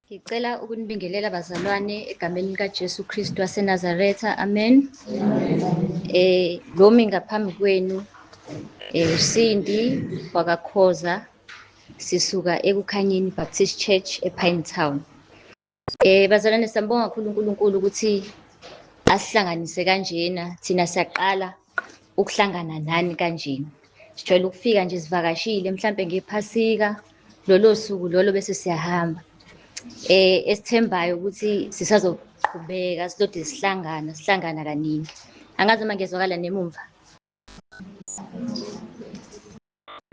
Ngicela ukunibingelela bazalwane egameni likaJesu Kristu waseNazaretha. Amen. Eh lomi ngaphambi kwenu eh uSindi wakakhoza sisuka ekukhanyeni Baptist Church ePine Town. Eh bazalwane siyambonga kakhulu uNkulunkulu ukuthi asihlanganise kanjena thina siyaqala ukuhlangana nani kanjena. Sijwayele ukufika nje sivakashile mhlambe ngephasika lolo suku lolo bese siyahamba. Eh esithembayo ukuthi sisazoqhubeka silode sihlangana sihlangana kaningi. Angazi uma ngezwakala nemumva.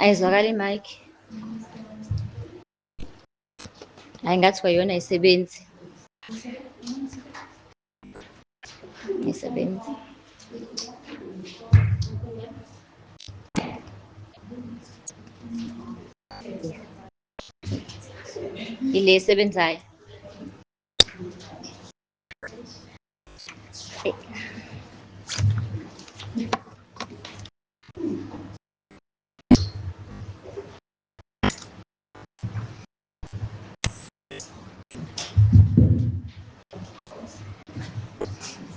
Ayizwakali mic. hayi ngathi kwayona isebenzi isebenzi ile esebenzayo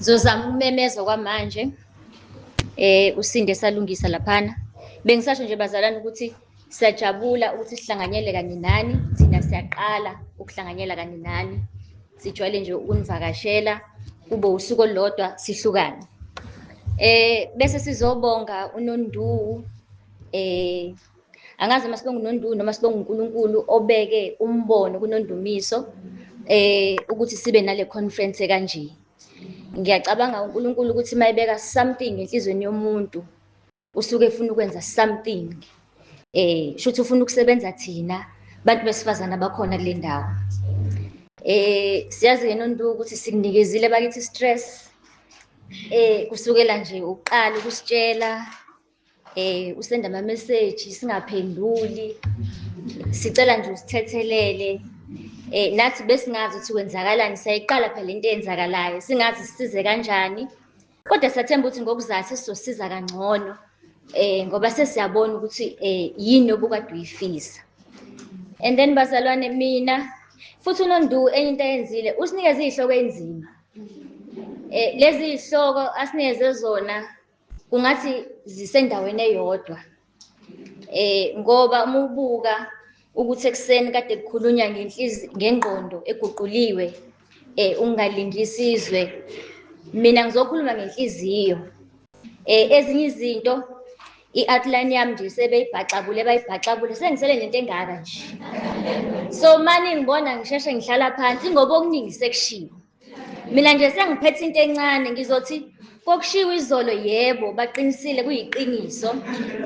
Zozama ukumemeza kwamanje. Eh usinde salungisa laphana. Bengisasho nje bazalana ukuthi siyajabula ukuthi sihlanganyele kanye nani, thina siyaqala ukuhlanganyela kanye nani. Sijwayele nje ukunivakashela kube usuku olulodwa sihlukane. Eh bese sizobonga uNonduwu eh Angazi uma sibonga uNondumiso noma sibonga uNkulunkulu obeke umbono kuNondumiso eh ukuthi sibe nale conference kanje. Ngiyacabanga uNkulunkulu ukuthi mayebeka something enhlizweni yomuntu usuke efuna ukwenza something. Eh shuthi ufuna ukusebenza thina bantu besifazana bakhona kule ndawo. Eh siyazi ke Nondu ukuthi sikunikezile bakithi stress eh kusukela nje uqala ukusitshela eh usenda ama message singaphenduli sicela nje usithethelele eh nathi besingazi ukuthi kwenzakalani sayiqala phela into eyenzakalayo singazi sisize kanjani kodwa sathemba ukuthi ngokuzayo sizosiza kangcono eh ngoba sesiyabona ukuthi eh yini obukade uyifisa and then bazalwane mina futhi unondu enye into ayenzile usinikeza izihloko enzima eh lezi zihloko asinikeze zona ungathi zisendaweni eyodwa eh ngoba uma ubuka ukuthi ekuseni kade kukhulunywa ngengqondo eguquliwe eh ungalingi isizwe mina ngizokhuluma ngenhliziyo eh ezinye izinto i-outline yami nje sebeyibhaxabule bayibhaxabule sengisele nento engaka nje so mani ngibona ngisheshe ngihlala phansi ngoba okuningi sekushiwo Mina nje sengiphethe into encane ngizothi kokushiwo izolo yebo baqinisile kuyiqiniso.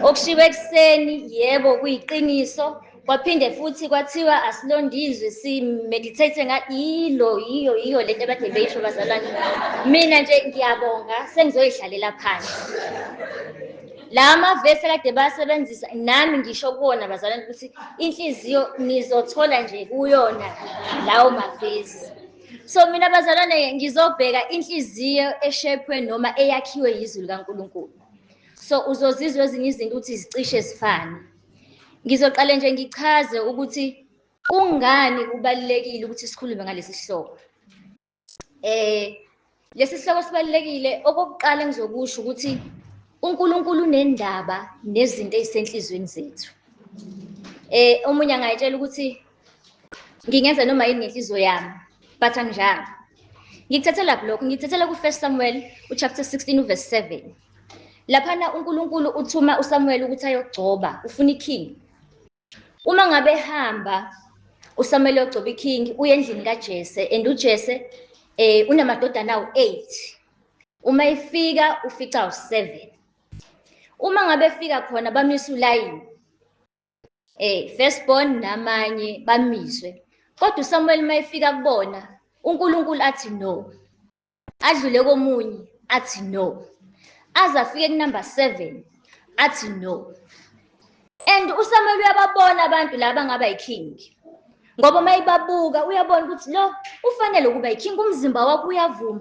Okushiwo ekuseni yebo kuyiqiniso. Kwaphinde futhi kwathiwa asilondizwe si meditate nga ilo yiyo yiyo lento abade beyisho bazalwane. Mina nje ngiyabonga sengizoyidlalela phansi. La mavesi kade basebenzisa nami ngisho kuwona bazalwane ukuthi inhliziyo nizothola nje kuyona lawo mavesi. So mina bazalwane ngizobheka inhliziyo eshepwe noma eyakhiwe yizwi likaNkulunkulu. So uzozizwa ezinye izinto ukuthi zicishe zifane. Ngizoqale nje ngichaze ukuthi kungani kubalulekile ukuthi sikhulume ngalesi sihloko. Eh Lesi sihloko sibalulekile okokuqala engizokusho ukuthi uNkulunkulu unendaba nezinto ezisenhlizweni zethu. Eh omunye angayitshela ukuthi ngingenza noma yini ngenhliziyo yami but anginjalo. Ngikuthathela lokho ngikuthathela ku 1 Samuel uchapter 16 uverse 7. Laphana uNkulunkulu uthuma uSamuel ukuthi ayogcoba ufuna iking. Uma ngabe hamba uSamuel ogcoba iking uye endlini kaJese and uJese eh unamadodana awu8. Uma efika ufica u7. Uma ngabe efika khona bamisa ulayini. Eh first born namanye bamiswe. Kodwa uSamuel uma efika kubona uNkulunkulu athi no. adlule komunye athi no aze afike kunumber seven athi no and usamuel uyababona abantu laba ngaba yiking ngoba uma ibabuka uyabona ukuthi lo ufanele ukuba yiking umzimba wakho uyavuma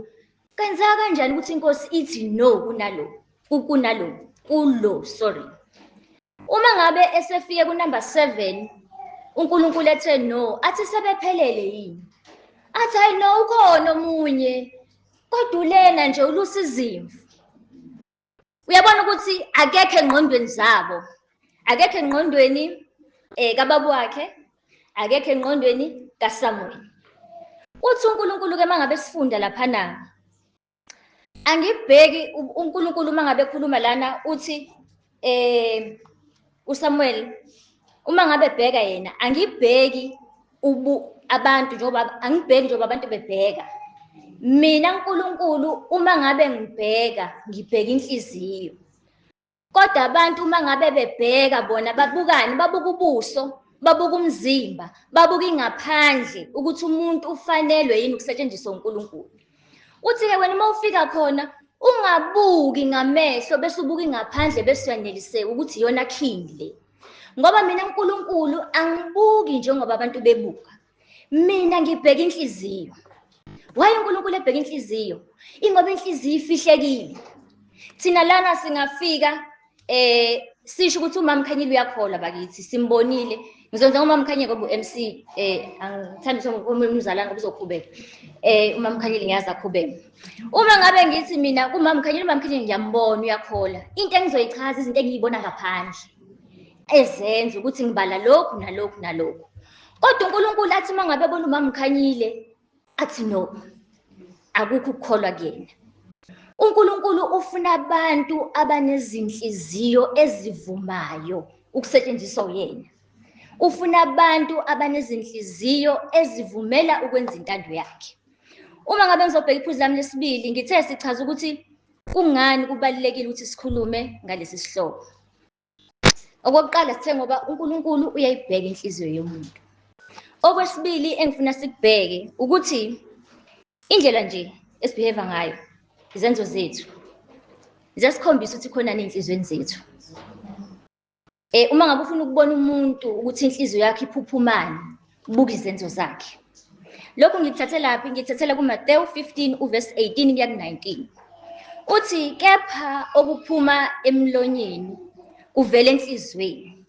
kwenzeka kanjani ukuthi inkosi ithi no kunaloku kunalo kulo sorry uma ngabe esefike ku number 7 uNkulunkulu ethe no athi sebephelele yini athi hayi no ukhona omunye kodwa ulena nje ulusa izimvu uyabona ukuthi akekho engqondweni zabo akekho engqondweni eh kababa wakhe akekho engqondweni kaSamuel uthi uNkulunkulu ke mangabe sifunda lapha na angibheki uNkulunkulu uma ngabe ekhuluma lana uthi eh uSamuel uma ngabe bheka yena angibheki ubu abantu njengoba angibheki njengoba abantu bebheka mina uNkulunkulu uma ngabe ngibheka ngibheka inhliziyo Kodwa abantu uma ngabe bebheka bona babukani, babuka ubuso, babuka umzimba, babuka ingaphandle ukuthi umuntu ufanelwe yini ukusetshenziswa uNkulunkulu. Uthi-ke wena uma ufika khona ungabuki ngamehlo bese ubuka ingaphandle bese uyaneliseka ukuthi iyona king le. Ngoba mina uNkulunkulu angibuki njengoba abantu bebuka. mina ngibheka inhliziyo waye unkulunkulu ebheka inhliziyo ingoba inhliziyo ifihlekile thina lana singafika eh sisho ukuthi umama khanyile uyakholwa bakithi simbonile ngizonza ngomama khanye ngoba u-mc um eh, angithanda ukuthi umzalane ngoba uzokhubeka um eh, umama khanyile ngiyazi akhubeka uma ngabe ngithi mina kumama khanyile umama khanyile ngiyambona uyakhola into engizoyichaza izinto engiyibona ngaphandle ezenza ukuthi ngibala lokhu nalokhu nalokhu kodwa unkulunkulu athi uma ngabe bona umama ukhanyile athi no akukho ukukholwa kuyena unkulunkulu ufuna abantu abanezinhliziyo ezivumayo ukusetshenziswa uyena ufuna abantu abanezinhliziyo ezivumela ukwenza intando yakhe uma ngabe ngizobheka iphuzu lami lesibili ngithe sichaza ukuthi kungani kubalulekile ukuthi sikhulume ngalesi sihloko Okokuqala sithe ngoba uNkulunkulu uyayibheka inhliziyo yomuntu. Okwesibili engifuna sikubheke ukuthi indlela nje esibehave ngayo izenzo zethu ziyasikhombisa ukuthi khona nenhlizweni zethu. Eh uma ngabe ufuna ukubona umuntu ukuthi inhliziyo yakhe iphuphumani, Buka izenzo zakhe. Lokhu ngikuthathe laphi? Ngikuthathele kuMateyu 15 uvesi 18 kuya ku-19. Uthi kepha okuphuma emlonyeni kuvela enhliziyweni.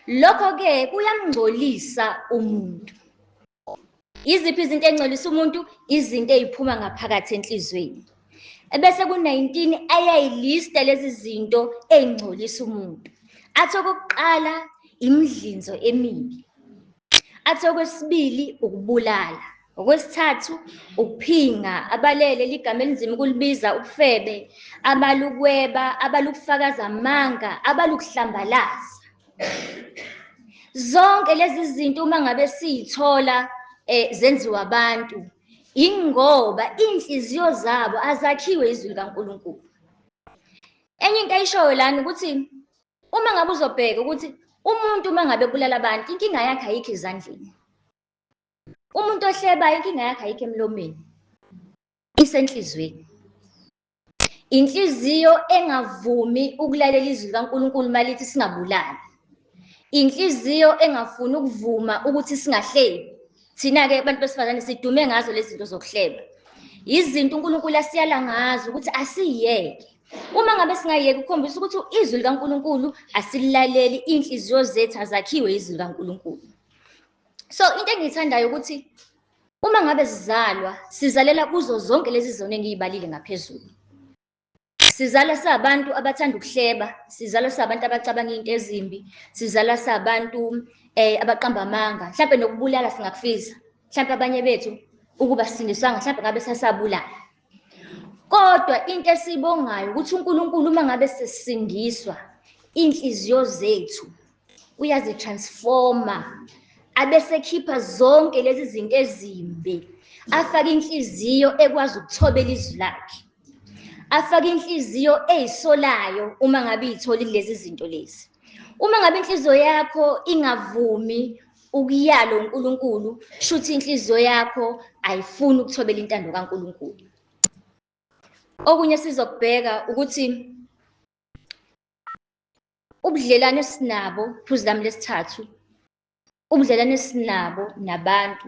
Lokho-ke kuyamngcolisa umuntu. Yiziphi izinto ey'ngcolisa umuntu? Izinto ey'phuma ngaphakathi enhliziyweni. ebese ku-19 ayayilista lezi zinto ey'ngcolisa umuntu athi okokuqala imidlinzo emibi athi okwesibili ukubulala okwesithathu ukuphinga abalele ligama elinzima ukulibiza ubufebe abalukweba abalukufakaza amanga abalukuhlambalaza zonke lezi zinto uma ngabe siyithola eh zenziwa abantu Yingoba iy'nhliziyo zabo azakhiwe izwi likaNkulunkulu. Enye into ayishoyo lana ukuthi uma ngabe uzobheka ukuthi umuntu uma ngabe ebulala abantu inkinga yakhe ayikho ezandleni. Umuntu ohlebayo inkinga yakhe ayikho emlomeni. Isenhlizweni. Inhliziyo engavumi ukulalela izwi likaNkulunkulu malithi singabulali. Inhliziyo engafuni ukuvuma ukuthi singahlebi. Thina-ke abantu besifazane sidume ngazo lezi zinto zokuhleba. Yizinto uNkulunkulu asiyala ngazo ukuthi asiyeke. Uma ngabe singayeki ukukhombisa ukuthi izwi likaNkulunkulu asilaleli, iy'nhliziyo zethu azakhiwe izwi likaNkulunkulu. So into engiyithandayo ukuthi Uma ngabe sizalwa, sizalela kuzo zonke lezi zono engiyibalile ngaphezulu. Sizalwa sabantu abathanda ukuhleba, sizalwa sabantu abacabanga into ezimbi, sizalwa sabantu eh abaqamba amanga, mhlawumbe nokubulala singakufisa. Mhlawumbe abanye bethu ukuba sindiswanga mhlawumbe ngabe sasabulala. Kodwa into esiyibongayo ukuthi uNkulunkulu uma ngabe sesindiswa inhliziyo zethu uyazitransforma abesekhipha zonke lezi zinto ezimbi afake inhliziyo ekwazi ukuthobela izwi lakhe afake inhliziyo eyisolayo uma ngabe iyitholile lezi zinto lezi uma ngabe inhliziyo yakho ingavumi ukuyalo uNkulunkulu shuthi inhliziyo yakho ayifuni ukuthobela intando kaNkulunkulu okunye sizokubheka ukuthi ubudlelwane esinabo phuzu lami lesithathu ubudlelwane esinabo nabantu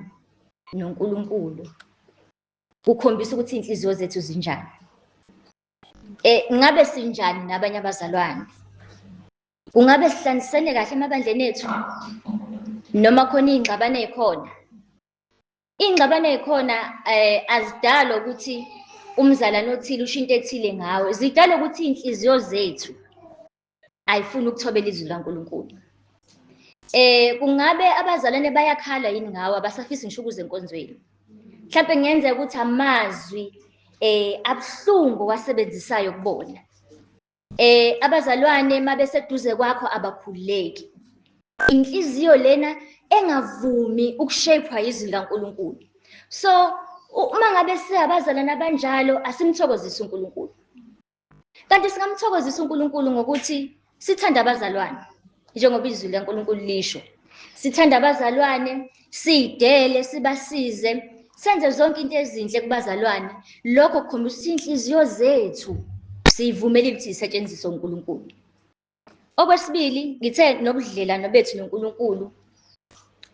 noNkulunkulu kukhombisa ukuthi inhliziyo zethu zinjani eh ngabe sinjani nabanye abazalwane Kungabe sihlanganisene kahle emabandleni ethu noma khona iy'ngxabano ey'khona? Iy'ngxabano ey'khona um eh, azidalwa ukuthi umzalwane othile usho into ethile ngawe, zidalwa ukuthi iy'nhliziyo zethu ayifuni ukuthobela izwi likaNkulunkulu. Eh kungabe abazalwane bayakhala yini ngawe abasafisi ngisho ukuze enkonzweni? Mhlawumbe kungenzeka ukuthi amazwi eh abuhlungu wasebenzisayo kubona. Eh abazalwane mabeseduze kwakho abakhululeki. Inhliziyo lena engavumi ukushapewa izwi likaNkuluNkulu. So uma ngabe siyabazalana abanjalo asimthokozisi uNkuluNkulu. Kanti singamthokozisa uNkuluNkulu ngokuthi sithande abazalwane. njengoba izwi likaNkulunkulu lisho sithanda abazalwane sidele sibasize senze zonke into ezinhle kubazalwane lokho kukhombisa ukuthi inhliziyo zethu siyivumelile ukuthi zisetshenziswe uNkulunkulu okwesibili ngithe nobudlelwano bethu noNkulunkulu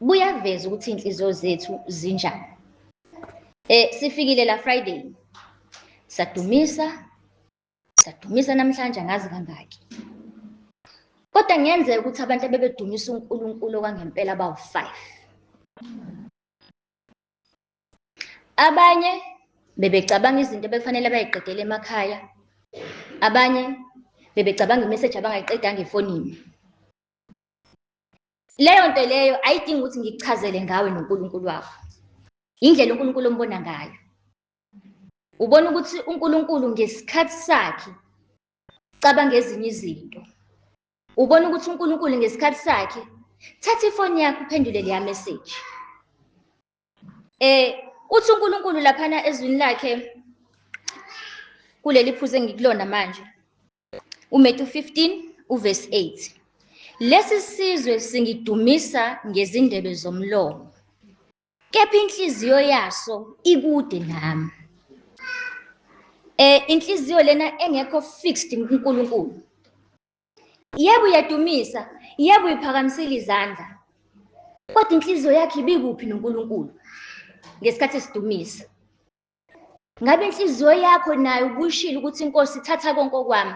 buyaveza ukuthi inhliziyo zethu zinjani eh sifikile la Friday sadumisa Sadumisa namhlanje angazi kangaki. Kodwa ngenzeka ukuthi abantu abebedumisa uNkulunkulu okwangempela bawu-5. Abanye bebecabanga izinto ebekufanele bayiqedele emakhaya. Abanye bebecabanga imeseji abangayiqedanga efonini. Leyo nto leyo ayidingi ukuthi ngikuchazele ngawe noNkulunkulu wakho. Indlela uNkulunkulu ombona ngayo. ubona ukuthi uNkulunkulu ngesikhathi sakhe cabanga ezinye izinto ubona ukuthi uNkulunkulu ngesikhathi sakhe thatha ifoni yakho uphendule leya message eh uthi uNkulunkulu laphana ezwini lakhe kuleli phuze ngikulona manje uMatthew 15 uverse 8 lesi sizwe singidumisa ngezindebe zomlomo kepha inhliziyo yaso ikude nami eh inhliziyo lena engekho fixed kuNkulunkulu yebo uyadumisa yebo uyiphakamisile izandla kodwa inhliziyo yakhe ibikuphi noNkulunkulu ngesikhathi esidumisa Ngabe inhliziyo yakho nayo ubuyishilo ukuthi inkosi ithatha konke okwami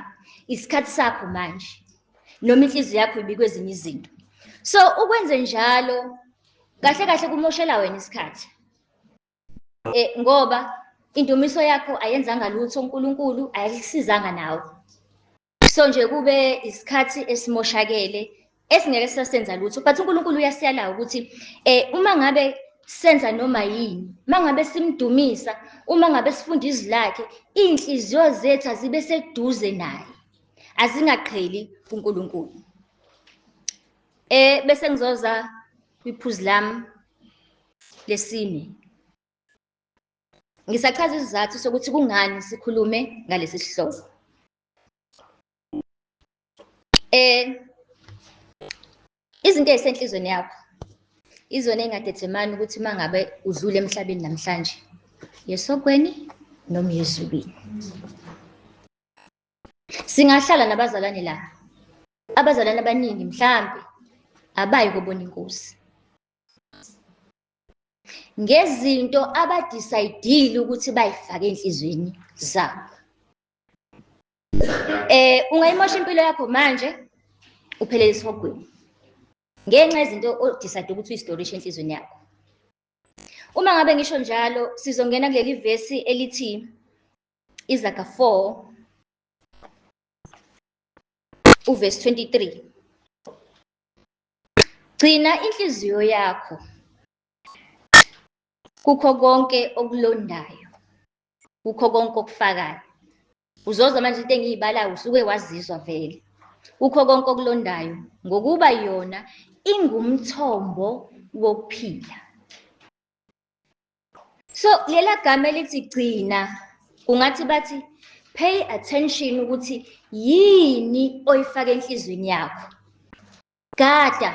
isikhathi sakho manje noma inhliziyo yakho ibikwe ezinye izinto so ukwenze njalo kahle kahle kumoshela wena isikhathi eh ngoba indumiso yakho ayenzanga lutho uNkulunkulu ayisizanga nawe so nje kube isikhathi esimoshakele esingeke sisasenza lutho but uNkulunkulu uyasiyala ukuthi eh uma ngabe senza noma yini mangabe simdumisa uma ngabe sifunda izwi lakhe inhliziyo zethu azibe seduze naye azingaqheli kuNkulunkulu eh bese ngizoza kwiphuzu lami lesine ngisachaza isizathu sokuthi kungani sikhulume ngalesi sihloko Eh izinto ezisenhlizweni yakho izona engadedemani ukuthi uma ngabe udlule emhlabeni namhlanje yesokweni noma yezulwini singahlala nabazalwane la abazalwane abaningi mhlambe abayi kobona inkosi ngezinto abadisayidile ukuthi bayifake enhlizweni zabo Eh ungayimosha impilo yakho manje uphelele isihogweni. Ngenxa yezinto odecide ukuthi uyistorisha enhlizweni yakho. Uma ngabe ngisho njalo sizongena kuleli verse elithi Izaga 4 uverse 23. Gcina inhliziyo yakho kukho konke okulondayo. kukho konke okufakayo uzozwa manje into engiyibalayo usuke wazizwa vele kukho konke okulondayo ngokuba yona ingumthombo wokuphila so lela gama elithi gcina kungathi bathi pay attention ukuthi yini oyifaka enhlizweni yakho gada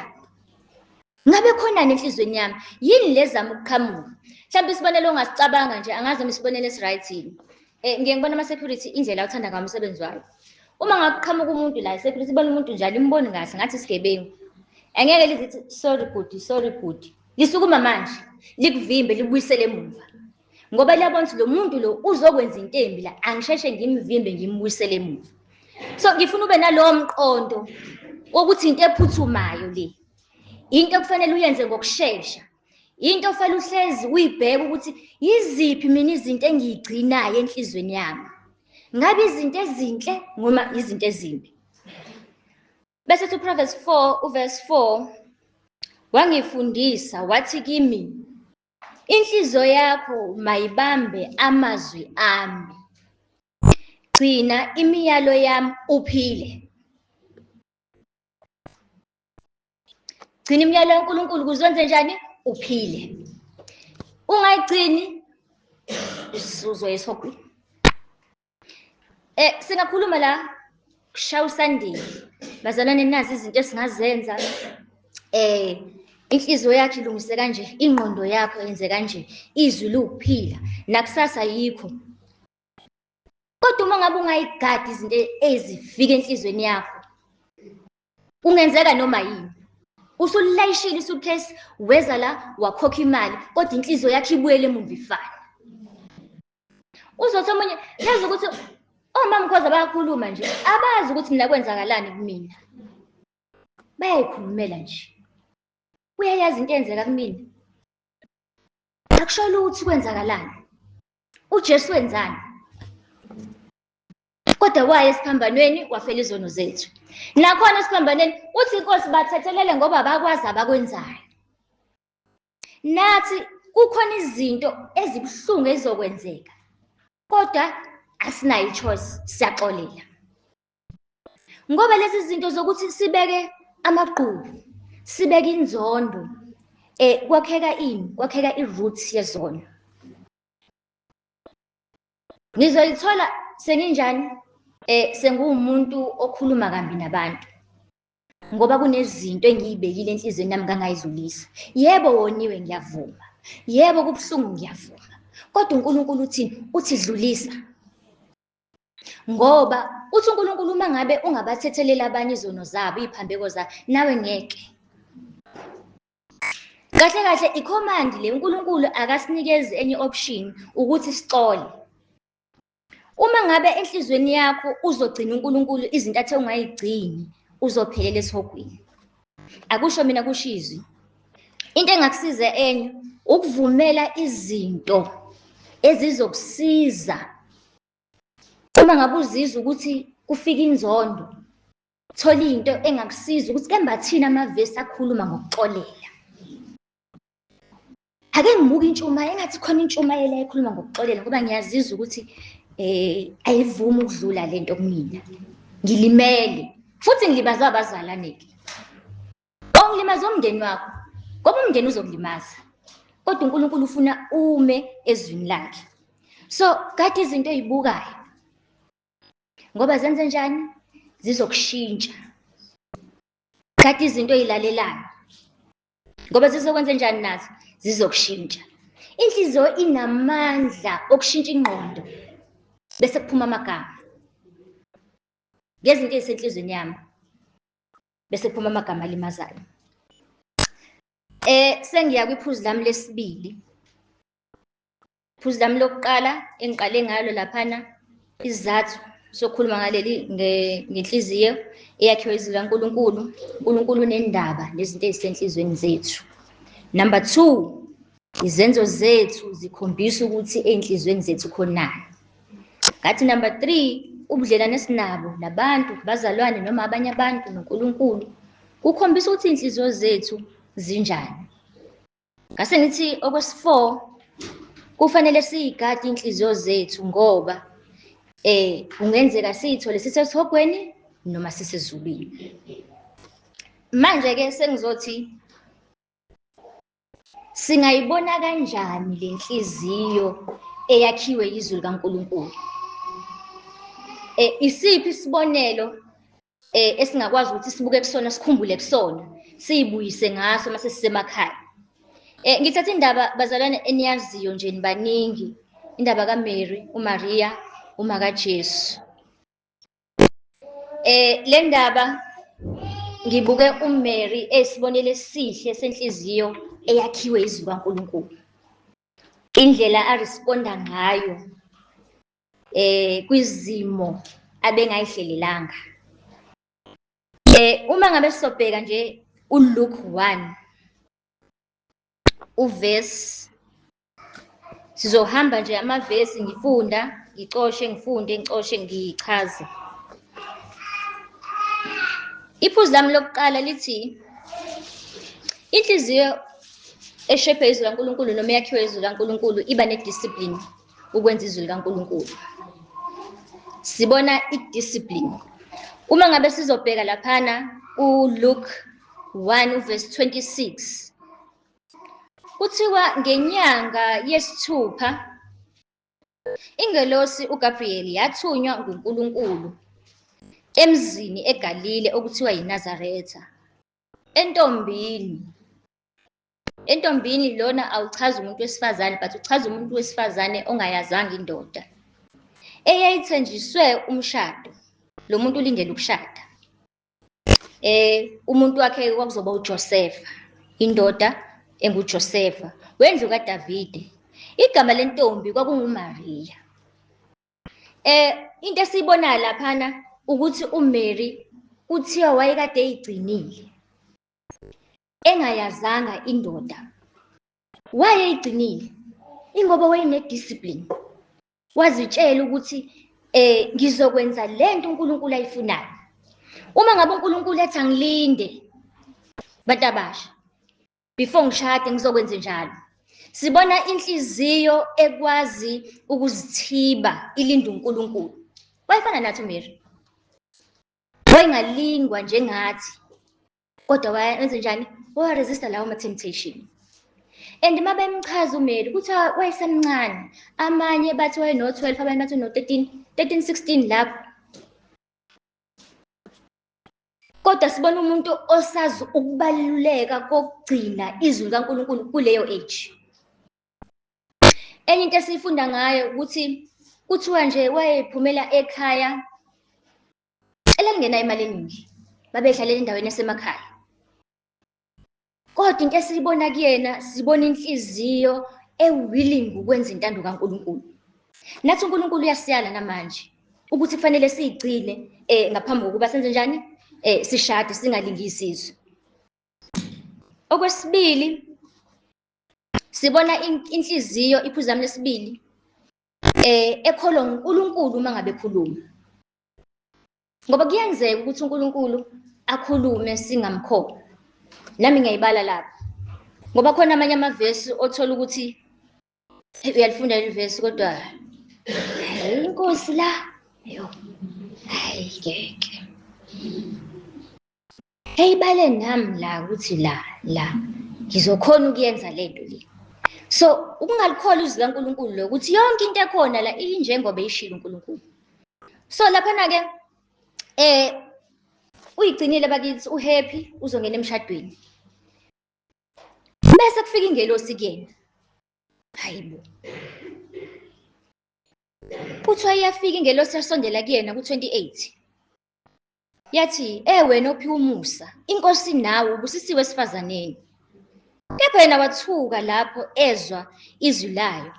ngabe khonani enhlizweni yami yini lezama ukuqhamuka mhlawumbe isibonelo ongasicabanga nje angazi noma isibonelo esi-right yini um ngiye ngibona ama-security indlela uthanda ngawo umsebenzi wayo uma ngakuqhamuka umuntu la i-security ibona umuntu njalo imboni kahle ngathi isigebengu angeke lizithi sorry bhuti sorry bhuti lisukuma manje likuvimbe likubuyisele emuva ngoba liyabona ukuthi lo muntu lo uzokwenza into embi la angisheshe ngimvimbe ngimbuyisele emuva so ngifuna ube nalowo mqondo wokuthi into ephuthumayo le into okufanele uyenze ngokushesha into ofanele uhlezi uyibheke ukuthi yiziphi mina izinto engiyigcinayo enhlizweni yami ngabe izinto ezinhle noma izinto ezimbi bese uthi uproverbs 4 uverse 4 wangifundisa wathi kimi Inhliziyo yakho mayibambe amazwi ami. Gcina imiyalo yami uphile. Gcina imiyalo kaNkulunkulu kuzwenze njani? Uphile. Ungayigcini usuzoyesogwini. Eh singakhuluma la kushaya usandile. Bazalwane nazi izinto esingazenza eh inhliziyo yakhe ilungise kanje ingqondo yakho yenze kanje izwi liwukuphila nakusasa yikho kodwa uma ngabe ungayigadi izinto ezifika enhlizweni yakho kungenzeka noma yini usulayishile isuitcase weza la wakhokha imali kodwa inhliziyo yakhe ibuyele emumva ifana uzothi omunye yazi ukuthi omama mkhoza bayakhuluma nje abazi ukuthi mina kwenzakalani kumina bayayikhulumela nje uyayazi into eyenzeka kumina akusholo ukuthi kwenzakalani ujesu wenzani kodwa waye esiphambanweni wafela izono zethu nakhona esiphambanweni uthi inkosi bathethelele ngoba bakwazi abakwenzayo nathi kukhona izinto ezibuhlungu ezizokwenzeka kodwa asinayo ichoice siyaxolela ngoba lezi zinto zokuthi sibeke amagqubu sibeke inzondo eh kwakheka ini kwakheka iroot yezona Ngizoyithola senginjani? Eh senguwumuntu okhuluma kambi nabantu. Ngoba kunezinto engiyibekile enhlizweni yami ngangayizulisa. Yebo woniwe ngiyavuma. Yebo kubuhlungu ngiyavuma. Kodwa uNkulunkulu uthi uthi dlulisa. Ngoba uthi uNkulunkulu uma ngabe ungabathetheleli abanye izono zabo, iziphambeko zabo, nawe ngeke. kahle kahle icommand le uNkulunkulu akasinikezi enye option ukuthi sixole uma ngabe enhlizweni yakho uzogcina uNkulunkulu izinto athe ungayigcini uzophelela esihogweni akusho mina kushizwe into engakusiza enye ukuvumela izinto ezizokusiza uma ngabe uzizwa ukuthi kufika inzondo thola into engakusiza ukuthi kembathini amavesi akhuluma ngokuxolela ake ngibuke intshumayelo engathi khona intshumayelo ekhuluma ngokuxolela ngoba ngiyazizwa ukuthi eh ayivumi ukudlula lento kumina ngilimele futhi ngilibazwa abazalwane ke ongilimaza umndeni wakho ngoba umndeni uzokulimaza kodwa uNkulunkulu ufuna ume ezwini lakhe so kade izinto ezibukayo ngoba zenze njani zizokushintsha thatha izinto oyilalelayo ngoba zizokwenza njani nazo zizokushintsha inhliziyo inamandla okushintsha ingqondo bese kuphuma amagama ngezinto ezisenhlizweni yami bese kuphuma amagama alimazayo eh sengiya kwiphuzu lami lesibili Phuzu lami lokuqala engiqale ngalo laphana isizathu sokhuluma ngaleli ngenhliziyo eyakhiwe izwi likaNkulunkulu. UNkulunkulu unendaba nezinto ezisenhlizweni zethu. Number two, izenzo zethu zikhombisa ukuthi ey'nhlizweni zethu khonani. Ngathi number three, ubudlelwane esinabo nabantu, bazalwane noma abanye abantu noNkulunkulu kukhombisa ukuthi iy'nhliziyo zethu zinjani. Ngase ngithi okwesi-four kufanele siyigade iy'nhliziyo zethu ngoba eh kungenzeka siyithole sisesihogweni noma sisezulwini. Manje-ke sengizothi singayibona kanjani le nhliziyo eyakhiwe yizwi likaNkulunkulu? Eh, isiphi isibonelo eh esingakwazi ukuthi sibuke kusona sikhumbule kusona siyibuyise ngaso mase sisemakhaya eh ngithatha indaba bazalwane eniyaziyo nje nibaningi indaba kaMary uMaria uma kaJesu eh le ndaba ngibuke uMary esibonele esihle senhliziyo eyakhiwe izwi kaNkuluNkulu indlela aresponda ngayo eh kwizimo abengayihlelelanga eh uma ngabe sobheka nje uLuke 1 uverse sizohamba nje amavesi ngifunda ngicoshe ngifunde ngicoshe ngichaze iphuzu lami lokuqala lithi inhliziyo eshebhe izwi laNkulunkulu noma eyakhiwe izwi laNkulunkulu iba nediscipline ukwenza izwi likaNkulunkulu. Sibona i-discipline. Uma ngabe sizobheka laphana uLuke 1 uverse 26 kuthiwa ngenyanga yesithupha ingelosi uGabriel yathunywa nguNkulunkulu emzini eGalile okuthiwa yiNazaretha entombini entombini lona awuchazi umuntu wesifazane but uchaza umuntu wesifazane ongayazanga indoda eyayithenjiswe umshado lo muntu ulindele ukushada eh umuntu wakhe kwakuzoba uJosefa indoda enguJosefa wendlu kaDavide igama lentombi kwakunguMaria eh into esiyibona laphana ukuthi uMary kuthiwa wayekade eyigcinile engayazanga indoda wayeyigcinile ingoba wayene-discipline wazitshela ukuthi eh ngizokwenza le nto uNkulunkulu ayifunayo uma ngabe uNkulunkulu ethi angilinde bantu abasha before ngishade ngizokwenza njalo sibona inhliziyo ekwazi ukuzithiba ilinde uNkulunkulu wayefana nathi uMary wayengalingwa njengathi kodwa wayenze njani wawaresista lawo ma-temptation and uma bemchaza umeli kuthiwa wayesemncane amanye bathi wayeno-twelve abanye bathi uno-thirteen thirteen sixteen lapho kodwa sibona umuntu osazi ukubaluleka kokugcina izwi likaNkulunkulu kuleyo age enye into esiyifunda ngayo ukuthi kuthiwa nje wayephumela ekhaya elalingena imali eningi babedlalela endaweni yasemakhaya kodwa into esiyibona kuyena sibona inhliziyo ewilling ukwenza intando kaNkulunkulu nathi uNkulunkulu uyasiyala namanje ukuthi kufanele siyigcine eh ngaphambi kokuba senze njani eh sishade singalingi isizwe okwesibili sibona inhliziyo iphuzami lesibili eh ekholwa uNkulunkulu uma ngabe khuluma ngoba kuyenzeka ukuthi uNkulunkulu akhulume singamkhokha nami ngiyayibala lapha ngoba khona amanye amavesi othola ukuthi uyalifunda leli vesi kodwa inkosi la yo hayi ngeke Hey bale nami la ukuthi la la ngizokhona ukuyenza lento le. So ukungalikholwa izwi likaNkulunkulu lo ukuthi yonke into ekhona la injengoba ishilo uNkulunkulu. So lapha na ke eh uyigcinile bakithi uhappy uzongena emshadweni. Bese kufika ingelosi kuyena. Hayibo. Kuthiwa iyafika ingelosi yasondela kuyena ku-28. Yathi, E wena ophiwa umusa, inkosi nawe ubusisiwe esifazaneni. Kepha yena wathuka lapho ezwa izwi layo.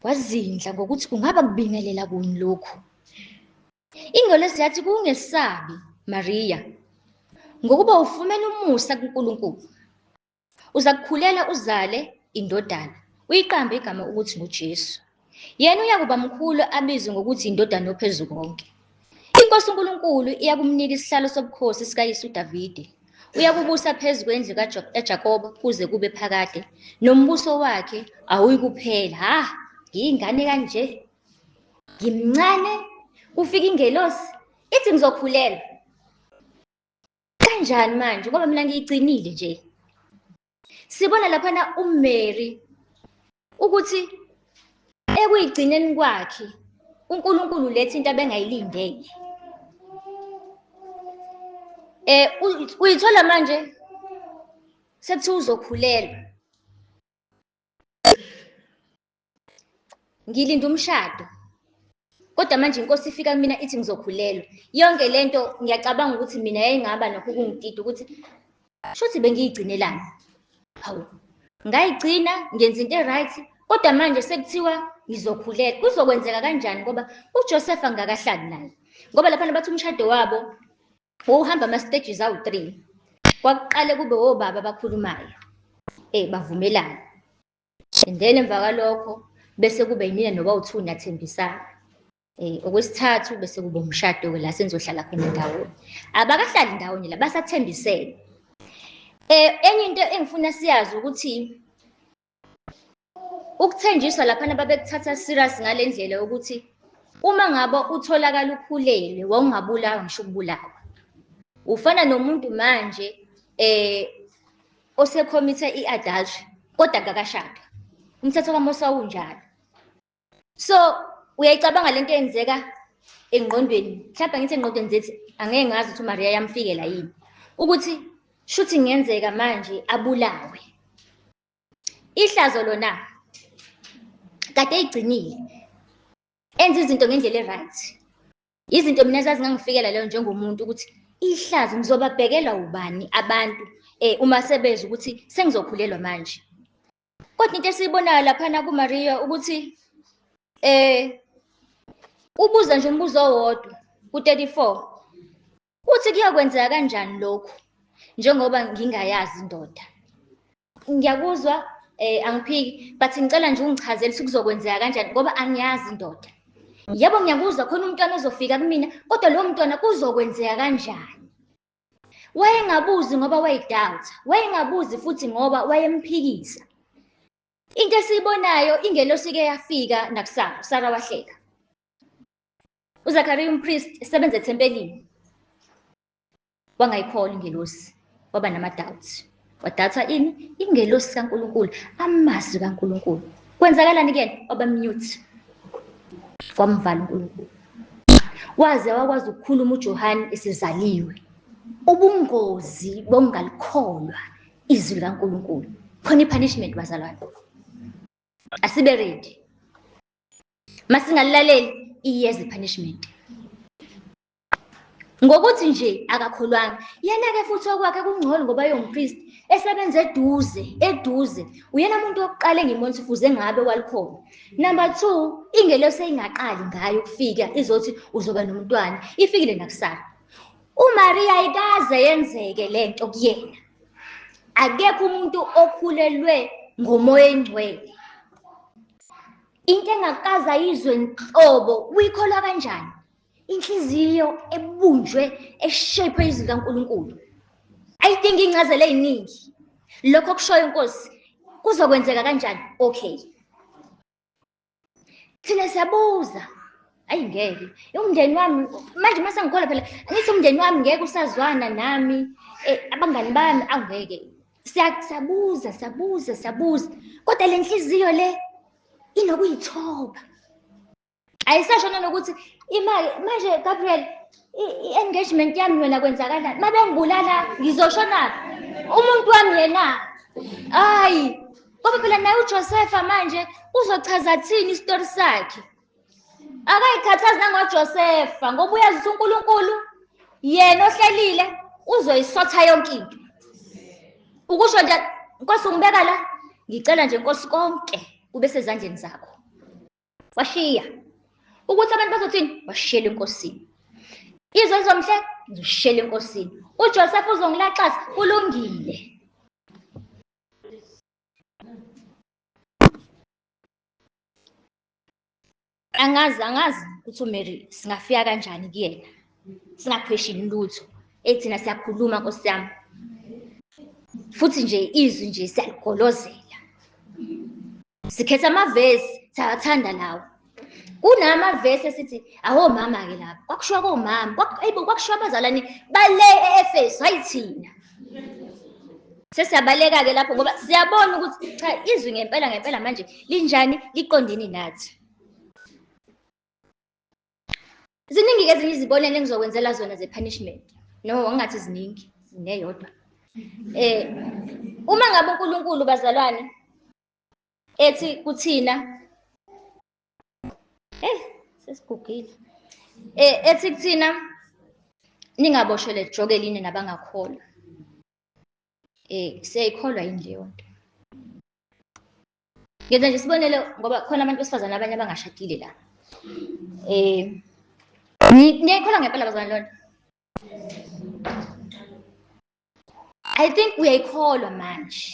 Wazindla ngokuthi kungaba kubingelela kuni lokhu. Ingolesi yathi, Kungesabi, Mariya, ngokuba ufumene umusa kuNkulunkulu. Uzakukhulela uzale indodana, uyiqambe igama ukuthi nguJesu. Yena uyakuba mkhulu abizwe ngokuthi indodana yophezu konke. INkosi uNkulunkulu iyakumnika isihlalo sobukhosi sikaYise uDavide. Uyakubusa phezu kwendlu kaJakobe kuze kube phakade, nombuso wakhe awuyikuphela. Ha, ngiyingane kanje. Ngimncane, kufika ingelosi, ithi ngizokhulelwa. kanjani manje ngoba mina ngiyigcinile nje sibona laphana uMary ukuthi ekuyigcineni kwakhe uNkulunkulu lethe into abengayilindele eh uyithola manje sekuthiwa uzokhulelwa ngilinda umshado kodwa manje inkosi ifika kumina ithi ngizokhulelwa yonke le nto ngiyacabanga ukuthi mina yayingaba nakho ukungidida ukuthi shuthi bengiyigcinelani hawu ngayigcina ngenza into e-right kodwa manje sekuthiwa ngizokhulelwa kuzokwenzeka kanjani ngoba ujosefa ngingakahlali naye ngoba laphana bathi umshado wabo wawuhamba ama-stages awu-three kwakuqale kube wobaba abakhulumayo um bavumelane and then emva kwalokho bese kube yimina noba uthu nathembisana eh okwesithathu bese kuba umshado ke la senizohlala khona ndawonye abakahlali ndawonye la basathembisene eh enye into engifuna siyazi ukuthi ukuthenjiswa lapha nababekuthatha serious ngalendlela ukuthi uma ngabe utholakala ukhulelwe wawungabulawa ngisho ukubulawa ufana nomuntu manje eh osekhomithe i-adultery kodwa kakashadi umthetho kamosa unjalo so uyayicabanga lento eyenzeka engqondweni mhlawumbe ngithi engqondweni zethi angeke ngazi ukuthi umariya yamfikela yini ukuthi shuthi ngenzeka manje abulawe ihlazo lona kade eyigcinile enza izinto ngendlela e-right izinto mina zazingangifikela leyo njengomuntu ukuthi ihlazo ngizobabhekela ubani abantu eh uma sebeza ukuthi sengizokhulelwa manje kodwa into esiyibonayo laphana kuMaria ukuthi eh ubuza nje umbuzo owodwa ku-34 uthi kuyokwenzeka kanjani lokhu njengoba ngingayazi indoda ngiyakuzwa eh angiphiki but ngicela nje ungichazele ukuthi kuzokwenzeka kanjani ngoba angiyazi indoda yebo ngiyakuzwa khona umntwana ozofika kumina kodwa lowo mntwana kuzokwenzeka kanjani wayengabuzi ngoba wayedoubt wayengabuzi futhi ngoba wayemphikisa into esiyibonayo ingelosi ke yafika nakusara usara wahleka uzakariya umpriest esebenza ethempelini wangayikholwa ingelosi waba nama-doubts wadatha ini ingelosi kaNkulunkulu amazwi kaNkulunkulu kwenzakalani kuyena waba mute wamvala uNkulunkulu waze wakwazi ukukhuluma uJohane esezaliwe ubungozi bokungalikholwa izwi likaNkulunkulu khona i-punishment bazalwane asibe ready masingalilaleli iyeza i-punishment Ngokuthi nje akakholwanga, yena-ke futhi okwakhe kungcono ngoba eyompristi esebenza eduze, eduze. Uyena muntu wokuqala engimona ukuthi fuze ngabe walikhona. Number two, ingelosi eyingaqali ngayo ukufika izothi uzoba nomntwana, ifikile nakusana. UMariya ayikaze yenzeke le nto kuyena. Akekho umuntu okhulelwe ngomoya engcwele. Into engakaze ayizwe nhlobo, uyikholwa kanjani? inhliziyo ebunjwe eshape izikaNkulunkulu ayidingi incazelo eziningi lokho kushoyo inkosi kuzokwenzeka kanjani okay thina siyabuza ayi ngeke umndeni wami manje uma sengikhola phela ngithi umndeni wami ngeke usazwana nami eh, abangani bami awungeke siyabuza siyabuza siyabuza kodwa le nhliziyo le inokuyithoba ayisasho nanokuthi imali manje Gabriel i-engagement yami yona kwenzakalani uma bengibulala ngizoshonaphi umuntu wami yena hayi ngoba phela naye ujosefa manje uzochaza thini isitori sakhe akayikhathazi nangojosefa ngoba uyazi ukuthi unkulunkulu yena ohlelile uzoyisotha yonke into ukusho nje nkosi ungibeka la ngicela nje nkosi konke kube sezandleni zakho washiya ukuthi abantu bazothini washiyela enkosini izwe lizomhle ngizoshiyela enkosini uJoseph uzongilaxaza kulungile angazi angazi ukuthi uMary singafika kanjani kuyena singapheshini lutho ethina siyakhuluma nkosi yami futhi nje izwi nje siyaligolozela sikhetha amavesi siyathanda lawo kunama vesi esithi awo mama ke lapha kwakushiwa komama kwakuyibo kwakushiwa abazalwane bale eEfesu hayi thina sesiyabaleka ke lapho ngoba siyabona ukuthi cha izwi ngempela ngempela manje linjani liqondene nathi Ziningi-ke ezinye izibonelo engizokwenzela zona ze-punishment. No, ngingathi ziningi, neyodwa. Eh, uma ngabe uNkulunkulu bazalwane ethi kuthina eh sesigugile eh ethi kuthina ningaboshwe lejoke line nabangakholwa eh siyayikholwa yini leyo nto ngenza nje isibonelo ngoba khona abantu besifazane abanye abangashadile la eh niyayikholwa ngempela bazalwane lona i think uyayikholwa manje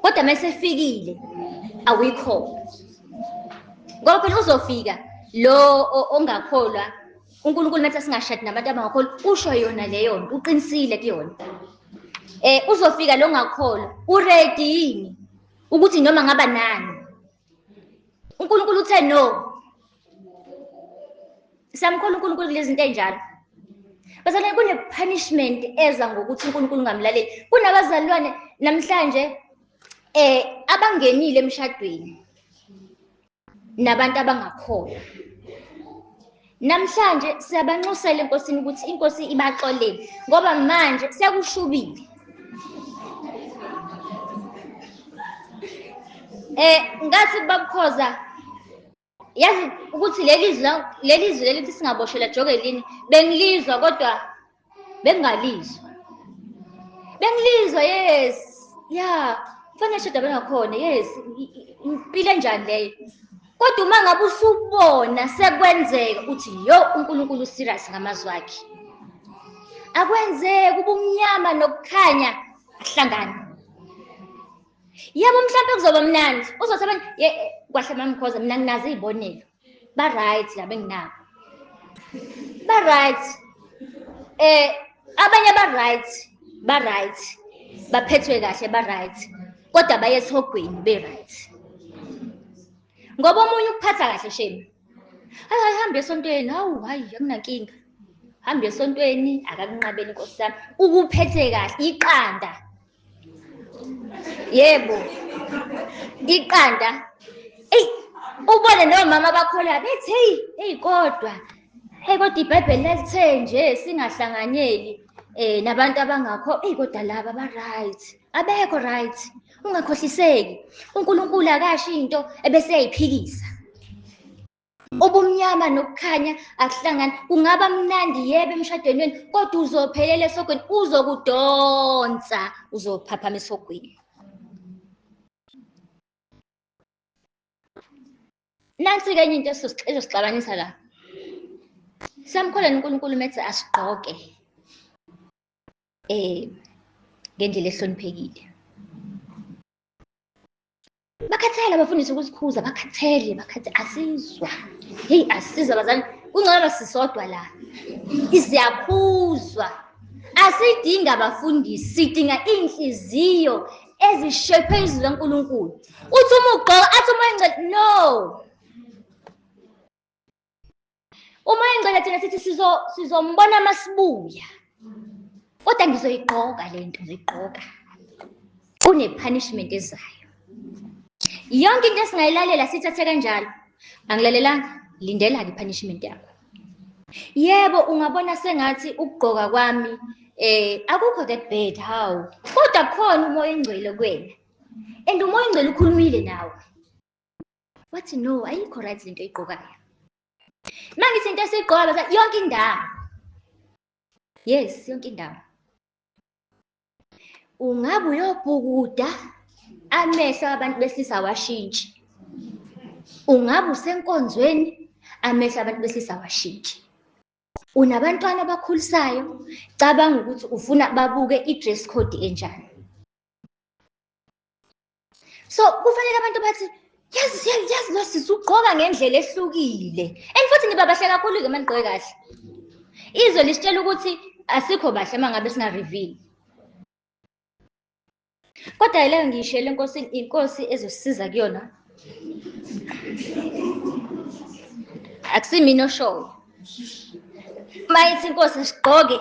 kodwa uma esefikile awuyikholwa ngoba phela uzofika lo ongakholwa uNkulunkulu nathi singashadi nabantu abangakholwa usho yona leyo nto uqinisile kuyona eh uzofika lo ngakholwa uready yini ukuthi noma ngaba nani uNkulunkulu uthe no samkhulu uNkulunkulu kulezinto enjalo bazalwane kune-punishment eza ngokuthi uNkulunkulu ungamlaleli kunabazalwane namhlanje eh abangenile emshadweni nabantu abangakholwa namhlanje siyabanxusela enkosini ukuthi inkosi ibaxolele ngoba manje sekushubile eh ngathi babukhoza yazi ukuthi leli zwi leli zwi lelithi singaboshelwa jokelini bengilizwa kodwa bengingalizwa bengilizwa yes ya kufanele shoda bengakhona yes impilo enjani leyo kodwa uma ngabe usubona sekwenzeka uthi yo unkulunkulu userious ngamazwi akhe akwenzeki ubumnyama nokukhanya ahlangane yebo mhlawumbe kuzoba mnandi uzothi abantu kwahle mamkhoza mina nginazo iy'bonelo ba-right laba enginabo ba-right eh abanye ba-right ba-right baphethwe kahle ba-right kodwa baye esihogweni be-right ngoba omunye ukuphatha kahle shame hayi hayi hambe esontweni hawu hayi akunankinga hambe esontweni akakunqabeli nkosi yami ukuphethe kahle iqanda yebo iqanda eyi ubone nomama bakholwa bethi heyi heyi kodwa heyi kodwa ibhayibheli lalithe nje singahlanganyeli um nabantu abangakho eyi kodwa laba ba-right abekho right ungakhohliseki unkulunkulu akasho into ebeseyayiphikisa ubumnyama nokukhanya akuhlangani kungaba mnandi yebe emshadweni wenu kodwa uzophelela esogweni uzokudonsa uzophaphama esogweni nansi-ke enye into ezosixabanisa la samkholeni unkulunkulu methi asigqoke um ngendlela ehloniphekile bakhathele abafundisi ukusikhuza bakhathele bakhathele asizwa heyi asizwa bazali kungcono sisodwa la siyakhuzwa asidingi abafundisi sidinga iy'nhliziyo ezishephe izwi lankulunkulu uthi uma ugqoka athi uma engcele no uma engcela thina sithi sizo sizombona masibuya kodwa ngizoyigqoka le nto ngizoyigqoka kune-punishment ezayo yonke into esingayilalela sithathe kanjalo angilalelanga lindela-ke i-punishment yakho yebo ungabona sengathi ukugqoka kwami eh akukho that bad how kodwa khona umoya engcwele kwena and umoya engcwele ukhulumile nawe wathi no ayikho right lento oyigqokayo uma ngithi into esiyigqoka bathi yonke indawo yes yonke indawo ungabe uyobhukuda amehlo abantu besilisa awashintshi ungabe usenkonzweni amehlo abantu besilisa awashintshi unabantwana abakhulisayo cabanga ukuthi ufuna babuke i-dress code enjani so kufanele abantu bathi yazi yazi lo sisi ugqoka ngendlela ehlukile and futhi niba bahle kakhulu-ke uma nigqoke kahle izwe lisitshela ukuthi asikho bahle uma ngabe singa-reveal kodwa yileyo ngiyishele inkosi inkosi ezosisiza kuyona akusimina oshoyo uma ithi inkosi sigqoke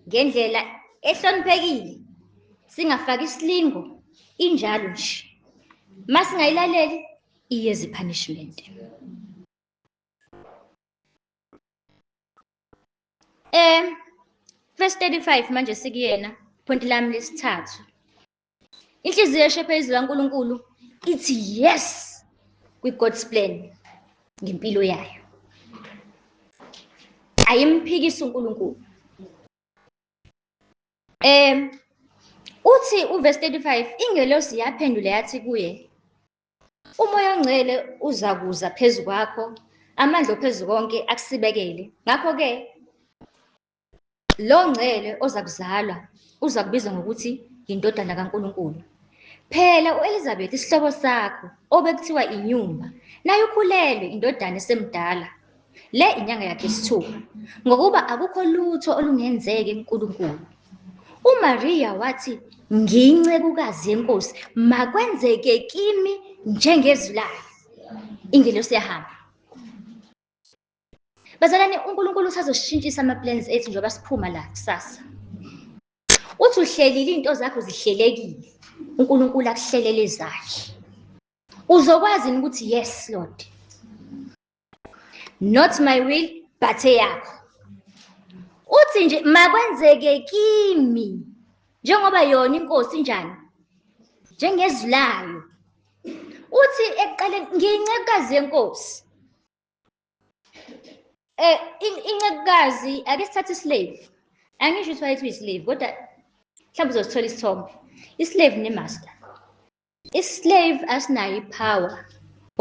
ngendlela ehloniphekile singafaki isilingo injalo nje uma singayilaleli iyeza i-punishment um verse 35 manje sikuyena point lami lesithathu inhliziyo eshephe izwi laNkulunkulu ithi yes kwi-God's plan ngempilo yayo ayimphikisi uNkulunkulu um uthi uverse 35 ingelosi yaphendula yathi kuye umoya ongcwele uza kuza phezu kwakho amandla ophezu konke akusibekele ngakho-ke Lo ngcele ozakuzalwa uzakubizwa ngokuthi yindodana kaNkulunkulu. Phela uElizabeth isihlobo sakho obekuthiwa inyumba, naye ukhulelwe indodana esemdala. Le inyanga yakhe isithupha, ngokuba akukho lutho olungenzeki kuNkulunkulu. UMariya wathi, Ngiyincekukazi yeNkosi, makwenzeke kimi njengezwi layo. Ingelosi yahamba. Bazalwane uNkulunkulu usazoshintshisa ama plans ethu njengoba siphuma la kusasa. Uthi uhlelile izinto zakho zihlelekile. uNkulunkulu akuhlelele zakhe uzokwazi ukuthi yes lord not my will but eyakho uthi nje makwenzeke kimi njengoba yona inkosi njani njengezwi layo uthi ekuqaleni ngiyincekukazi yenkosi Eh incekukazi ake sithathe islave. Angisho ukuthi wayethi uyislave kodwa mhlawumbe uzosithola isithombe. Islave nemaster. Islave asinayo ipower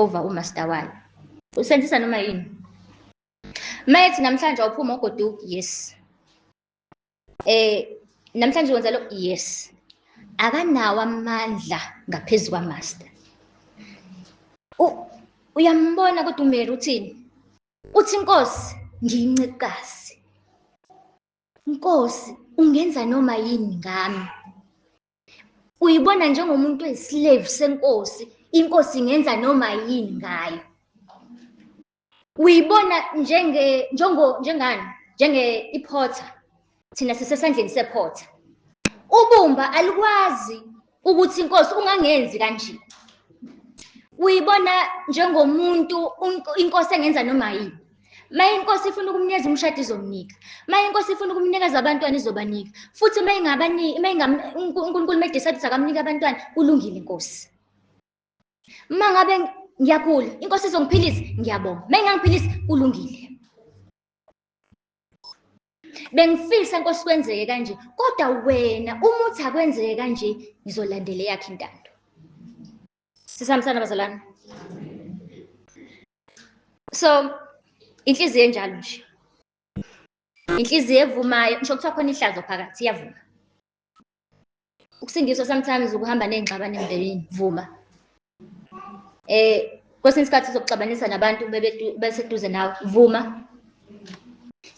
over umaster wayo. Usenzisa noma yini. Mayethi namhlanje awuphuma ugoduki yes. eh namhlanje wenza lo yes akanawo amandla ngaphezulu kwamaster uyambona kodwa umeli uthini uthi inkosi ngiyincikazi inkosi ungenza noma yini ngami uyibona njengomuntu oyislave senkosi inkosi ingenza noma yini ngayo uyibona njenge njengo njengani njenge iphotha thina sisesandleni sephotha ubumba alikwazi ukuthi inkosi ungangenzi kanje uyibona njengomuntu inkosi engenza noma yini maye inkosi ifuna ukumnikeza umshado izomnika maye inkosi ifuna ukumnikeza abantwana izobanika futhi uma ingabaniki uma unkulunkulu uma idecide ukuthi akamnike abantwana kulungile inkosi Uma ngabe ngiyagula, inkosi izongiphilisa, ngiyabonga. Uma ingangiphilisi, kulungile. Bengifisa inkosi kwenzeke kanje, kodwa wena uma uthi akwenzeke kanje, ngizolandela eyakhe intando. Sisambisana bazalwane. So inhliziyo enjalo nje. Inhliziyo evumayo, ngisho kuthiwa khona ihlazo phakathi iyavuma. ukusindiswa sometimes ukuhamba ney'ngxabano emndenini vuma eh kwesinye isikhathi uzokuxabanisa nabantu beseduze nawe vuma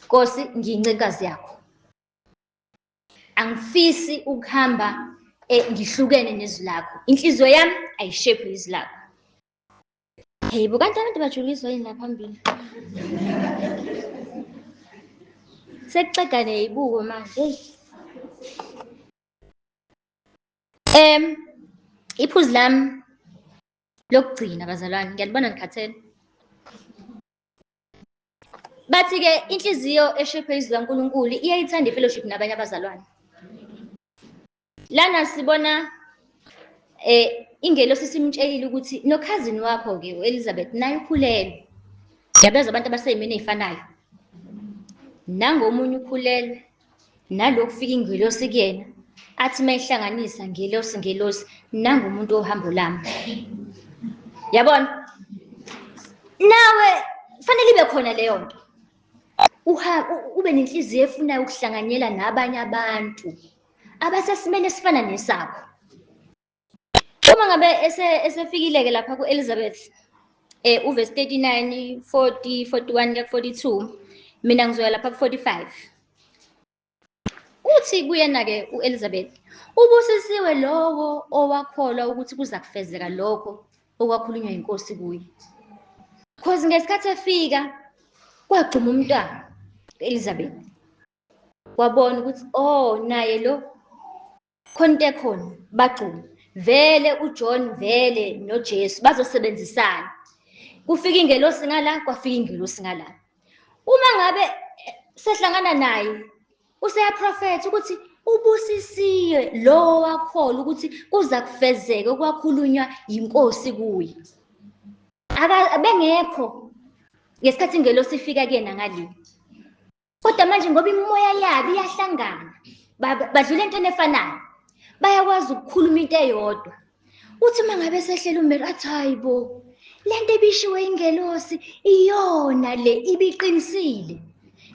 nkosi ngiyincikazi yakho angifisi ukuhamba eh, ngihlukene nezwi lakho inhliziyo yami ayishephi izwi lakho Hey, bukanti abantu bajuliswa yini la phambili? Sekuceda neyibuko manje. Em iphuzu lami lokugcina bazalwane ngiyanibona ngikhathele. Bathi ke inhliziyo eshephe izwi kaNkuluNkulu iyayithanda ifellowship nabanye abazalwane. lana sibona eh ingelosi simtshelile ukuthi nokhazini wakho ke uElizabeth naye ukhulelwe yabezwa abantu abaseyimini ezifanayo nangomunye ukhulelwe nalokufika ingelosi kuyena athi mayihlanganisa ngelosi ngelosi nangumuntu ohambo lami yabona nawe fanele ibe khona leyo nto ube nenhliziyo efunayo ukuhlanganyela nabanye abantu abasesimeni esifana nesakho uma ngabe esefikile-ke lapha ku-elizabeth um eh, uvesi 39 40 41 kuya ku-42 mina ngizoya lapha ku-45 uthi kuyena-ke u-elizabeth ubusisiwe lowo owakholwa ukuthi kuza kufezeka lokho okwakhulunywa yinkosi kuye cause ngesikhathi efika kwagxuma umntwana u-elizabeth wabona ukuthi oh naye lo khona into ekhona bagcuma vele uJohn vele noJesu bazosebenzisana kufika ingelosi ngala kwafika ingelosi ngala uma ngabe eh, sehlangana naye useyaprofetha ukuthi ubusisiwe lowo wakhola ukuthi kuza kufezeke okwakhulunywa yinkosi kuye bengekho ngesikhathi ingelosi ifika kuyena ngalini kodwa manje ngoba imimoya yabo iyahlangana badlula entweni efanayo bayakwazi ukukhuluma into eyodwa uthi uma ngabe sehlela umelo athi hayi bo le nto ebishiwe ingelosi iyona le ibiqinisile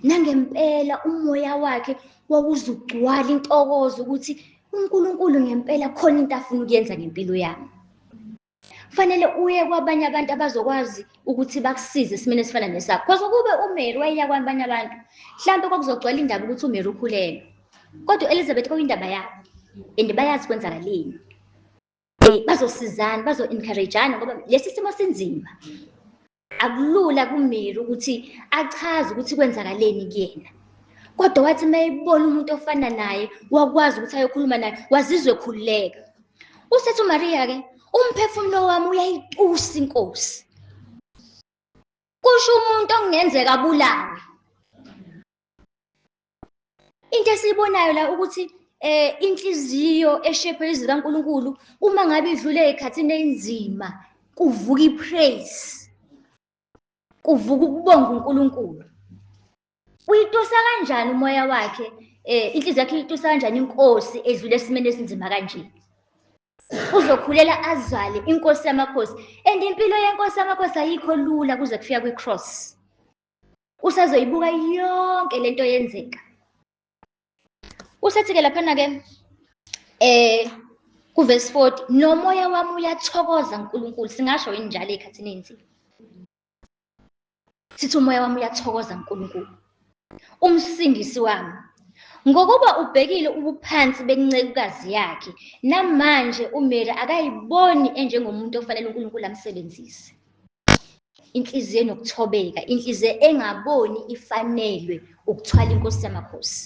nangempela umoya wakhe wawuze ugcwala intokozo ukuthi unkulunkulu ngempela khona into afuna ukuyenza ngempilo yami kufanele uye kwabanye abantu abazokwazi ukuthi bakusize esimeni esifana nesakho cause ukube umary wayeya kwabanye abantu mhlawumbe kwakuzogcwala indaba ukuthi umary ukhulelwe kodwa u-elizabeth kwakuyindaba yabo and bayazi kwenzakaleni um bazosizana bazo-encouragana ngoba lesi simo sinzima Akulula kuMary ukuthi achaze ukuthi kwenzakaleni kuyena. Kodwa wathi uma ebona umuntu ofana naye wakwazi ukuthi ayokhuluma naye wazizwe khululeka. Usethi uMaria ke umphefumulo wami uyayitusa inkosi. Kusho umuntu okungenzeka abulawe. into esiyibonayo la ukuthi eh inhliziyo eshephe izwi kaNkuluNkulu uma ngabe idlule ekhathini enzima kuvuka ipraise kuvuka ukubonga uNkulunkulu uyitusa kanjani umoya wakhe eh inhliziyo yakhe uyitusa kanjani inkosi edlule esimeni esinzima kanje uzokhulela azale inkosi yamakhosi and impilo yenkosi yamakhosi ayikho lula kuze kufika kwi-cross usazoyibuka yonke lento yenzeka usethi ke laphana ke eh kuverse 40 nomoya wami uyathokoza uNkulunkulu singasho yini njalo ekhathini enzi sithi umoya wami uyathokoza uNkulunkulu umsindisi wami ngokuba ubhekile ubuphansi bencekukazi yakhe namanje uMary akayiboni enjengomuntu ofanele uNkulunkulu amsebenzise inhliziyo enokuthobeka inhliziyo engaboni ifanelwe ukuthwala inkosi yamakhosi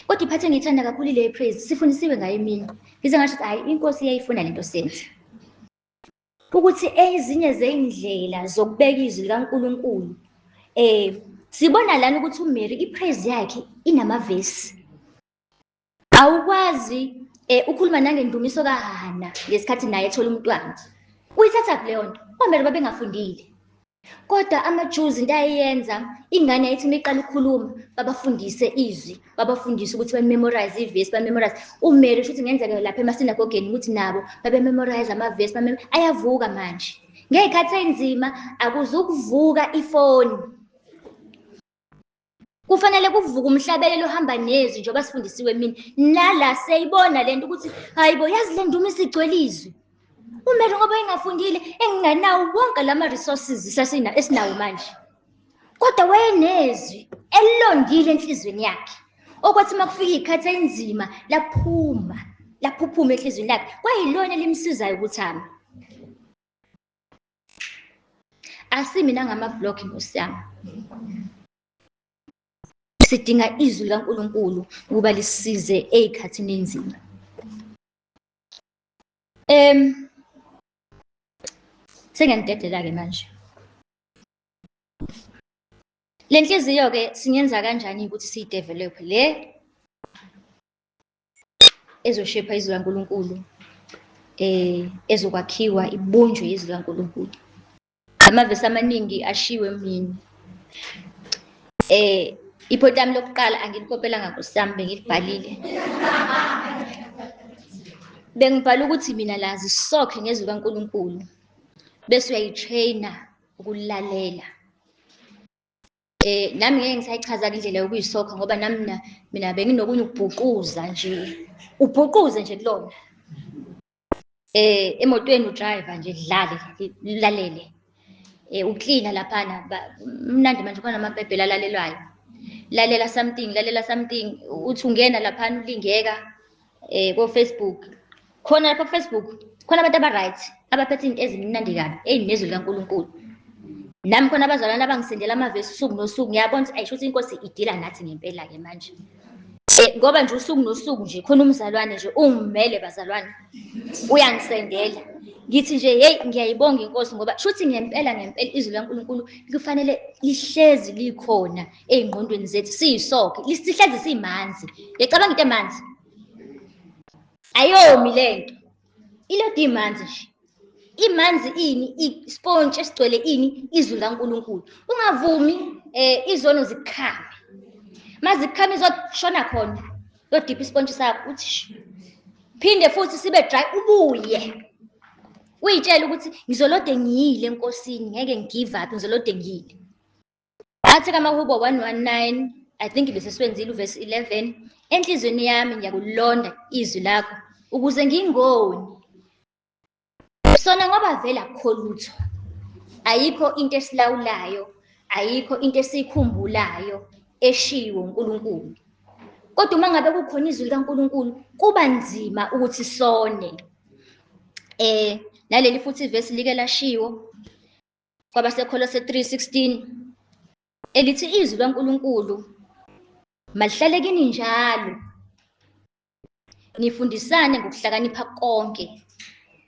kodwa iphathe ngiyithanda kakhulu ile praise sifundisiwe ngayo imini ngize ngasho ukuthi hayi inkosi iyayifuna le nto senza ukuthi ezinye zey'ndlela zokubeka izwi likankulunkulu um sibona lana ukuthi umary ipraise yakhe inamavesi Awukwazi eh ukhuluma nangendumiso kaHana ngesikhathi naye ethola umntwana. Uyithatha kuleyo nto. Kwamele babengafundile. Kodwa amaJuzi into ayeyenza ingane yayithi uma iqala ukukhuluma babafundise izwi, babafundise ukuthi bamemorize ivesi, bamemorize. Umele ukuthi ngenzeka lapha emasinagogeni ukuthi nabo babememorize amavesi, bamem ayavuka manje. Ngey'khathi ey'nzima akuzukuvuka ifoni. kufanele kuvuke umhlabelelo ohamba nezwi njengoba sifundisiwe mina nala seyibona le nto ukuthi hhayi bo yazi le nduma isigcwele izwi umele ngoba engafundile enginganawo wonke la ma-resources esinawo manje kodwa wayenezwi elilongile enhliziyweni yakhe okwathi uma kufika iy'khathi eyinzima laphuma laphuphuma enhliziyweni lakhe kwayilona elimsizayo ukuthi ame asimi nangamavlog nkosi yami sidinga izwi likaNkulunkulu ukuba lisize ezikhathini enzima em sengiyanidedela ke manje lenhliziyo ke singenza kanjani ukuthi siyidevelop le ezoshepha izwi laNkulunkulu eh ezokwakhiwa ibunjwe izwi laNkulunkulu amavesi amaningi ashiwe mina eh iphoti lami lokuqala angilikopelanga kusami bengilibhalile bengibhala ukuthi mina lazi sokhe ngezwi kaNkulunkulu bese uyayitraina ukulalela Eh nami ngeke ngisayichaza indlela yokuyisokha ngoba nami mina mina benginokunye ukubhuquza nje. Ubhuquze nje kulona. Eh emotweni udriver nje dlale lalele. Eh uklina laphana mnandi manje khona amabhebhela alalelwayo. Lalela something lalela something uthi ungena laphana ulingeka eh ko Facebook khona lapha Facebook khona abantu abaright abaphethe izinto ezimnandi kabi ezinezwi likaNkulunkulu nami khona abazalwana abangisendela amavesi usuku nosuku ngiyabona ukuthi ayisho ukuthi inkosi idila nathi ngempela ke manje eh, ngoba nje usuku nosuku nje khona umzalwane nje ungimele bazalwane uyangisendela ngithi nje hey ngiyayibonga inkosi ngoba shuthi ngempela ngempela izwi likaNkulunkulu kufanele lihlezi likhona ey'ngqondweni zethu siyisoke sihlezi simanzi yacabanga into emanzi ayomi le nto ilodi imanzi nje imanzi ini ispontshi esigcwele ini izwi likankulunkulu ungavumi eh izono zikhame mazikhame izoshona khona yodipha ispontshi sakho uthi phinde futhi sibe dry ubuye uyitshela ukuthi ngizolode ngiyile enkosini ngeke ngigive up ngizolode ngiyile Athi kamahubo 119 I think beseswenzile uverse 11 enhlizweni yami ngiyakulonda izwi lakho ukuze ngingoni sona ngoba vele akukho lutho ayikho into esilawulayo ayikho into esiyikhumbulayo eshiwo uNkulunkulu kodwa uma ngabe kukhona izwi likaNkulunkulu kuba nzima ukuthi sone eh naleli futhi ivesi like lashiwo kwabaseKholose 3:16 elithi izwi likaNkulunkulu malihlale kini njalo nifundisane ngokuhlakanipha konke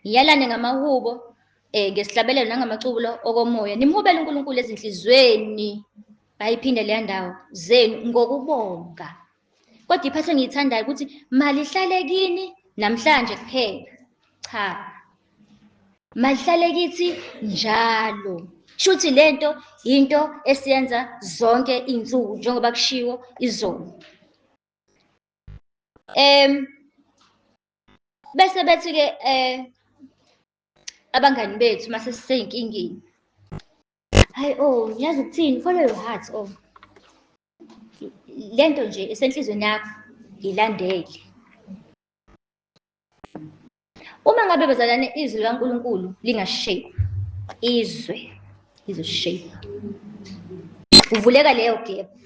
niyalane ngamahubo eh ngesihlabelelo nangamaculo okomoya nimhubele uNkulunkulu ezinhlizweni bayiphinde leya ndawo zenu ngokubonga Kodwa iphasi engiyithandayo ukuthi malihlale kini namhlanje kuphela. Cha. Malihlale kithi njalo. Shuthi lento into esiyenza zonke izinsuku njengoba kushiwo izolo. Em bese bethi ke eh abangani bethu mase siseyinkingeni. Hayi oh, ngiyazi ukuthini follow your heart oh. le nto nje esenhlizweni yakho ngilandele uma ngabe bazalwane izwi likankulunkulu lingashape izwe lizoshape kuvuleka leyo gebhu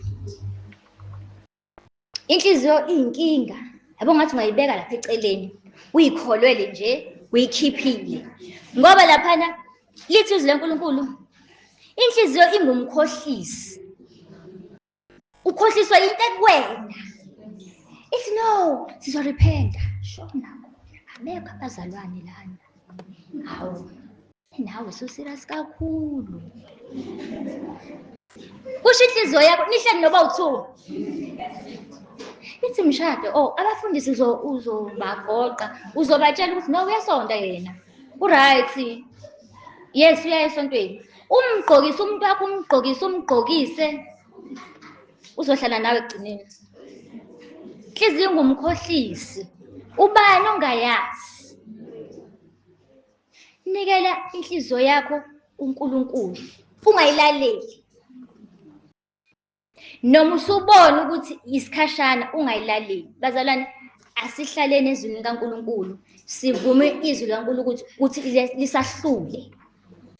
inhliziyo iyinkinga yabo ngathi ungayibeka lapha eceleni uyikholwele nje uyikhiphile ngoba laphana Lithi izwi leNkulunkulu, inhliziyo ingumkhohlisi. Ukhohliswa into ekwena. Ithi no, sizorephenta. Shona. Abekho abazalwane lana. Hawu. Nawe suserious kakhulu. Kusho inhliziyo yakho nihleli noba uthu. Ithi mshado, oh abafundisi uzobagoqa, uzobatshela ukuthi no uyasonta yena. Uright. Yes, uya esontweni. Umgqokise umuntu wakho umgqokise umgqokise. Uzohlala nawe ekugcineni. Inhliziyo ingumkhohlisi. Ubani ongayazi? Nikela inhliziyo yakho uNkulunkulu. Ungayilaleli. noma usubona ukuthi isikhashana ungayilaleli bazalwane asihlaleni ezwini likaNkuluNkulu sivume izwi likaNkuluNkulu ukuthi lisahlule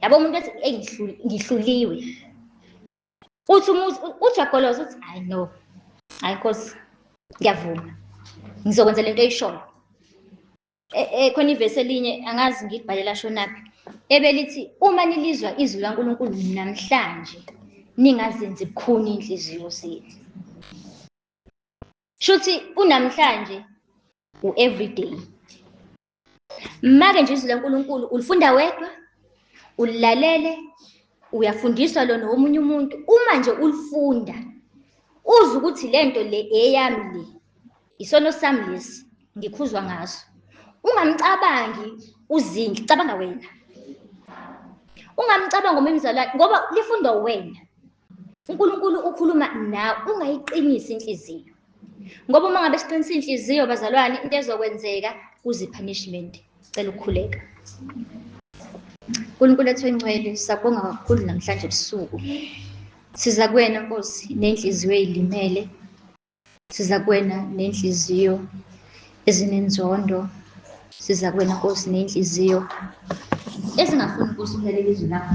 yabo umuntu ethi eyi ngihluliwe uthi umuzi ujagoloza uthi hayi no hayi nkosi ngiyavuma ngizokwenza lento eyishoyo Eh, eh, khona ivesi elinye angazi ngilibhalela shonaphi ebelithi uma nilizwa izwi lankulunkulu namhlanje ningazenzi bukhuni iy'nhliziyo zenu shuthi unamhlanje u-everyday make nje izwi lankulunkulu ulifunda wedwa ulilalele uyafundiswa lona womunye umuntu uma nje ulifunda uze ukuthi le nto le eyami le Isono sami lesi ngikhuzwa ngaso. Ungamcabangi uzinhle, cabanga wena. Ungamcabanga umimzalwa ngoba lifundwa wena. uNkulunkulu ukhuluma nawe ungayiqinisi inhliziyo ngoba uma ngabe siqinisa inhliziyo bazalwane into ezokwenzeka kuze punishment cela ukukhuleka uNkulunkulu ethu encwele sakubonga kakhulu namhlanje ebusuku siza kuwena Nkosi nenhliziyo eyilimele siza kuwena nenhliziyo ezinenzondo siza kuwena nkosi nenhliziyo ezingafuni nkosi ukulalela izwi lakho